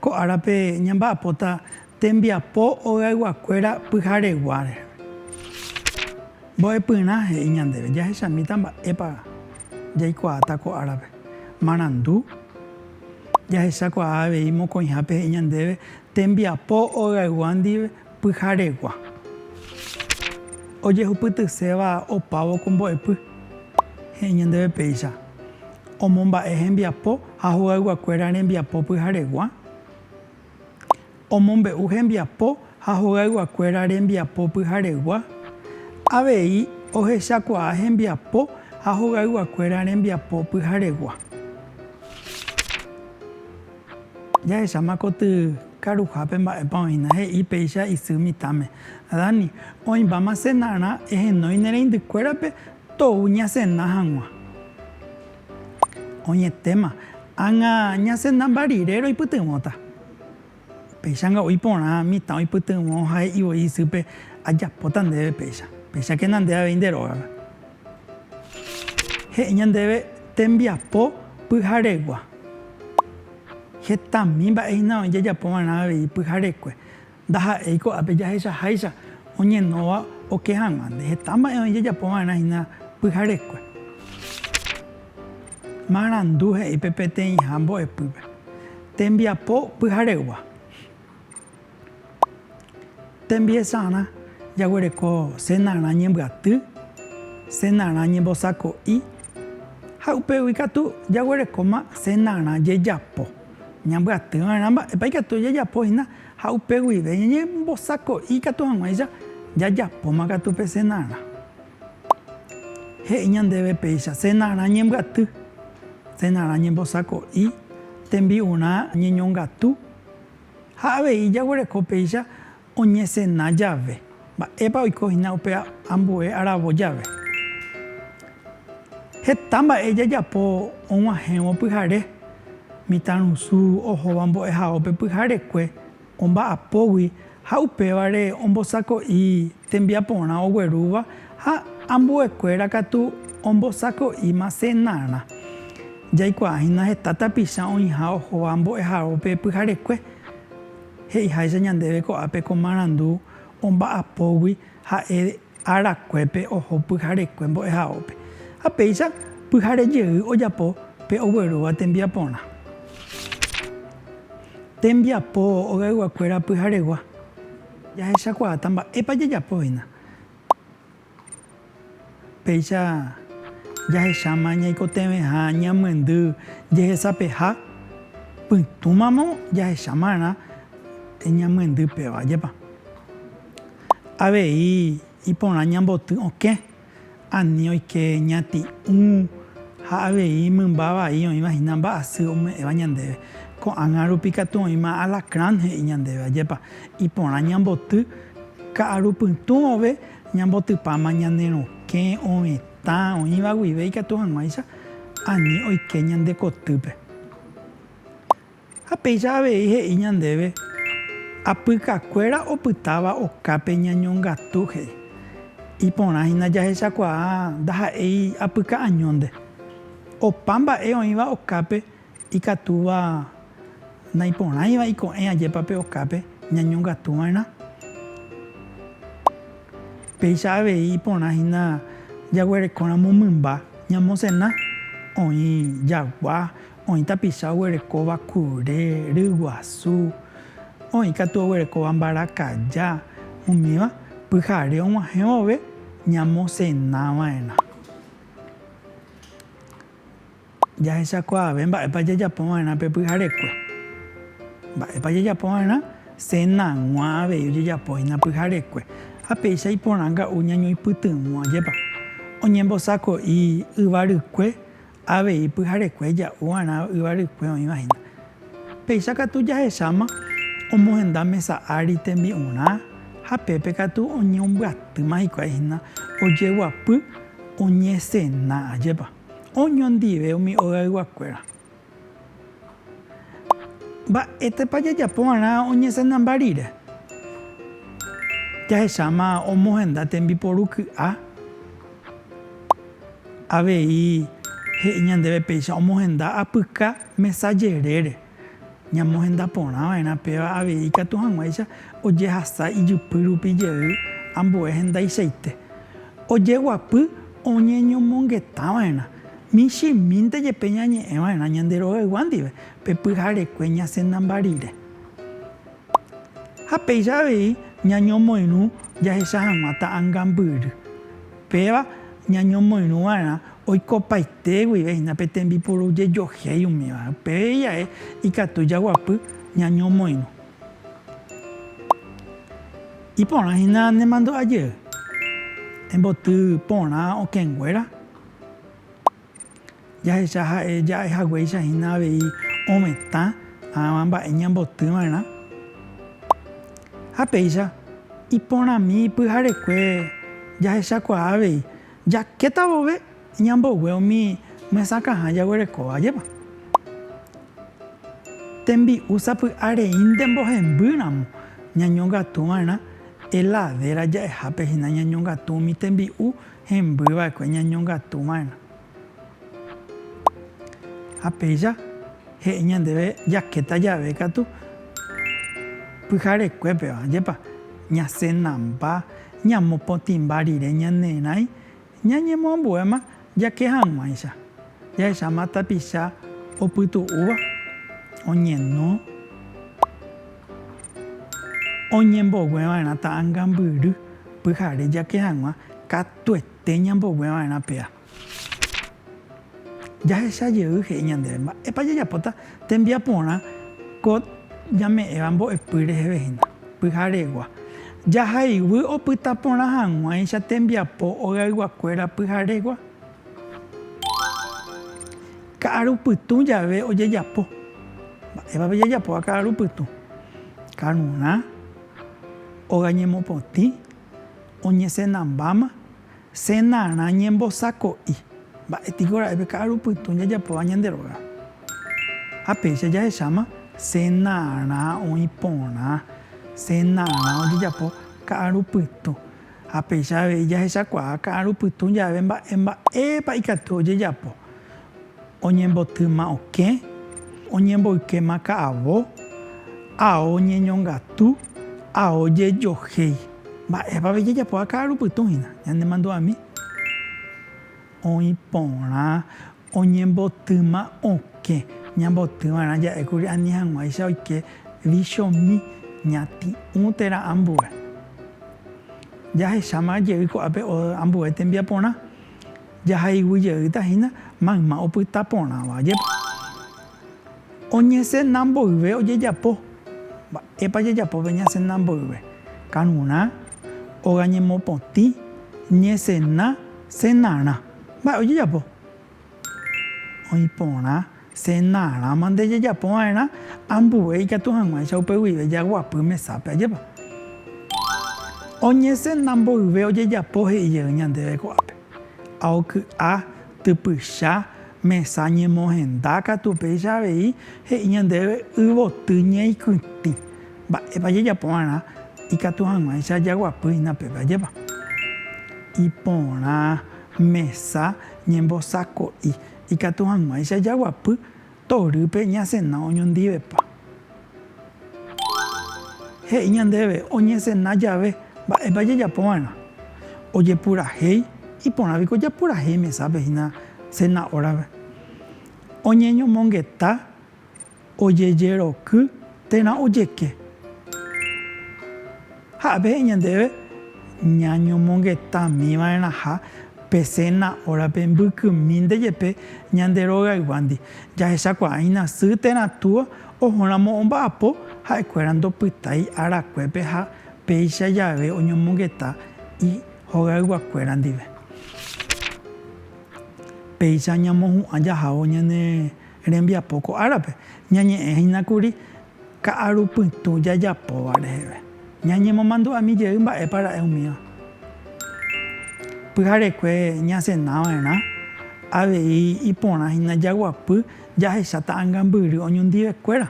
Ko árape ñamba'apóta tembiapo ogayguakuéra pyhareguáre. Mbo'epyrã he'i ñandéve jahechamíta mba'épa jaikuaáta ko árape. Marandu, jahechakuaa avei mokõihápe he'i ñandéve tembiapo ogaygua ndive Pyharegua. Ojehupytyséva opávo ko mbo'epy, he'i ñandéve péicha, omomba'e hembiapo ha hogayguakuéra rembiapo pyharegua, omombe'u hembiapo ha hogayguakuéra rembiapo pyharegua, avei ohechakuaa hembiapo ha hogayguakuéra rembiapo pyharegua. Jahecháma koty karuhápe mba'épa oĩna, he'i péicha isy mitãme, Dani, oĩmbáma cenarã ehenói ne reindykuérape tou ñacena hag̃ua. Oñetéma, ág̃a ñacena mba rire roipytyvõta. Péichanga oĩ porã mitã oipytyvõ ha he'i voi isýpe, Ajapóta ndéve péicha, péichakena nde avei nde rógape. He'i ñandéve tembiapo pyharegua. Hetami mba'e hína oĩ jajapova'erã avei pyharekue. Ndaha'éi ko'ápe jahechaháicha oñenóva oke hag̃uánte. Heta mba'e oĩ jajapova'erã hína pyharekue. Marandu he'i pe peteĩha mbo'epýpe, Tembiapo pyharegua. Tembiesarã jaguereko senarã ñembyaty, senarã ñembosako'i ha upégui katu jaguerekóma senarã jejapo. Ñambyaty va'erã mba'épa ikatu jajapo hína ha upe guive ñañembosako'i katu hag̃uáicha jajapóma katu pe senarã. He'i ñandéve péicha senarã ñembyaty, senarã ñembosako'i, tembi'urã ñeñongatu. Ha avei jaguereko péicha oñesena jave, mba'épa oiko hína upe ambue aravo jave. Heta mba'e jajapo og̃uahẽvo pyhare, mitãrusu ohóva mbo'ehaópe pyharekue omba'apógui ha upévare ombosako'i tembiaporã oguerúva ha ambuekuéra katu ombosako'íma cenarã. Jaikuaahína heta tapicha oĩha ohóva mbo'ehaópe pyharekue. He'iháicha ñandéve ko'ápe ko marandu omba'apógui ha'e arakuépe oho pyharekue mbo'ehaópe. Ha péicha pyhare jey ojapo pe oguerúva tembiaporã. Tembiapo ogayguakuéra pyharegua. Jahechakuaáta mba'épa jajapo hína. Péicha jahecháma ñaikotevẽha ñamyendy jehesapeha, pytũmamo jahechámarã ñamyendy péva, ajépa avei iporã ñamboty okẽ. Ani oike ñati'ũ ha avei mymba vai oĩva hína mba'asy ome'ẽva ñandéve. Ko'ág̃a rupi katu oĩma alacrán he'i ñandéve. Ajépa iporã ñamboty ka'aru pytũove ñambotypáma ñane rokẽ, ovetã, oĩva guive ikatu hag̃uáicha ani oike ñande kotýpe. Ha péicha avei he'i ñandéve, Apykakuéra opytáva okápe ñañongatu, he'i. Iporã hína jahechakuaa ndaha'éi apyka añónte. Opa mba'e oĩva okápe ikatúva naiporãiva iko'ẽ ajépa pe okápe ñañongatu va'erã. Péicha avei iporã hína jaguerekóramo mymba ñamosena, oĩ jagua, Oĩ tapicha oguerekóva kure, ryguasu, oĩ katu oguerekóva mbarakaja, umíva pyhare og̃uahẽ vove ñamosena va'erã. Jahechakuaave mba'épa jajapo va'erã pe pyharekue. Mba'épa jajapo va'erã? Senag̃ua avei ojejapóhina pyharekue. Ha péicha iporãnga'u ñañoipytyvõ ajépa. Oñembosako'i yvarykue Avei pyharekue ja'u g̃uarã yvarykue oĩva hína. Péicha katu jahecháma omohenda mesa ári tembi'urã ha pépe katu oñembyatýma hikuái hína ojeguapy oñesena. Ajépa oñondive umi ogayguakuéra! Mba'étepa jajapo va'erã oñesendamba rire? Jahecháma omohenda tembiporu ky'a, avei he'i ñandéve péicha omohenda apyka mesa jerére. Ñamohenda porã va'erã péva avei ikatu hag̃uáicha ojehasa ijypy rupi jey ambue hendaichaite. Ojeguapy oñeñomongeta va'erã. Michĩmínte jepe ñañe'ẽ va'erã ñande rogaygua ndive pe pyharekue ñasẽnamba rire. Ha péicha avei ñañomoirũ jahecha hag̃ua ta'angambyry. Péva ñañomoirũ va'erã oikopaite guive hína pe tembipuru jejohéi umíva. Upépe ijae ikatu jaguapy ñañomoirũ. Iporã hína ne mandu'a jey. Emboty porã okẽnguéra. Jahecha ha'e ja'e haguéicha hína avei ovetã ãva mba'e ñamboty va'erã. Ha péicha, iporãmi pyharekue jahechakuaa avei jakéta vove ñambogue umi mysakãha jaguerekóva ajépa. Tembi'u sapy'areínte mbohemby ramo ñañongatu va'erã, heladera ja'ehápe hína ñañongatu umi tembi'u Hemby va'ekue ñañongatu va'erã. Ha péicha he'i ñandéve jakéta jave katu pyharekue-péva, jepa ñasenamba, ñamopotĩmba rire ñanerãi, ñañemoambuéma jake hag̃uáicha, jahecháma tapicha opytu'úva, oñeno. Oñembogueva'erã ta'angambyry pyhare jake hag̃ua katuete ñambogueva'erã pea. Jahecha jey he'i ñandéve mba'épa jajapóta tembiaporã ko ñame'ẽva mbo'epy reheve hína, pyharegua. Jahayguy opytaporã hag̃uáicha tembiapo ogayguakuéra pyharegua. Ka'aru pytũ jave ojejapo. Mba'épa pejajapóva ka'aru pytũ? Karurã, óga ñemopotĩ, oñesenambáma, senarã ñembosako'i. Mba'e piko ra'e pe ka'aru pytũ jajapóva ñande rógape? Ha péicha jahecháma senarã oĩ porã, senarã ojejapo ka'aru pytũ. Ha péicha avei jahechakuaa ka'aru pytũ jave mba'e mba'épa ikatu ojejapo, oñembotýma okẽ, oñemboykéma ka'avo, ao ñeñongatu, ao jejohéi. Mba'épa avei jajapoa ka'aru pytũ hína? Ñanemandu'ami oĩ porã. Oñembotỹma okẽ. Ñambotỹ va'erã ja'e kuri ani hag̃uáicha oike vichomi ñati'ũ térã ambue. Jahecháma jey ko'ápe ambue tembiaporã, jahayhu jeýta hína mayma opyta porãva jepe. Oñesena mboyve ojejapo. Mba'épa jajapópe ñasena mboyve? Karurã, óga ñemopotĩ, ñesena, senarã. Mba'e ojejapo? Oĩ porã cenarã mante jajapo va'erã ambue ikatu hag̃uáicha upe guive jaguapy mesápe, ajépa? Oñecena mboyve ojejapo he'i jey ñandéve ko'ápe. Ha oky'a, typycha, mesa ñemohenda katu upéicha avei he'i ñandéve yvoty ñeikytĩ. Mba'épa jajapova'erã ikatu hag̃uáicha jaguapýhina peve ajépa? Iporã, mesa, ñembosako'i. Ikatu hag̃uáicha jaguapy torýpe ñasena oñondivepa. He'i ñandéve oñesena jave, mba'épa jajapova'erã? Ojepurahéi, iporã piko japurahéi mesápe hína sena órape. Oñeñomongeta. Ojejeroky térã ojeke. Ha pehe'i ñandéve ñañomongetamiva'erãha pe séna órape mbykymínte jepe ñande rogayguándi. Jahechakuaáina sy térã túa ohóramo omba'apo ha'ekuéra ndopytái arakuépe ha péicha jave oñomongeta ihogayguakuéra ndive. Péicha ñamohu'ã jahávo ñane Rembiapo ko árape, ñañe'ẽ hína kuri ka'aru pytũ jajapóva reheve. Ñañemomandu'ami jey mba'épa ra'e umíva. Pyharekue ñasena va'erã, avei iporã hína jaguapy jahecha ta'ãngambyry oñondive kuéra.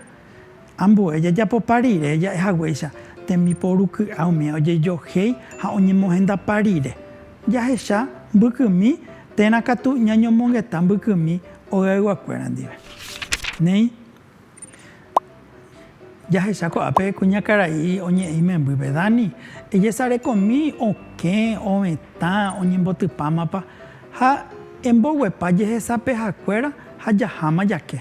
Ambue jajapopa rire ja'e haguéicha tembiporu ky'a umi ojejohéi ha oñemohendapa rire. Jahecha mbykymi térã katu ñañomongeta mbykymi ogayguakuéra ndive. Néi, jahecha ko'ápe kuñakarai oñe'ẽ imembýpe, Dani, ejesarekomi okẽ, ovetã, oñembotypámapa ha emboguepa jehesapehakuéra ha jaháma jake.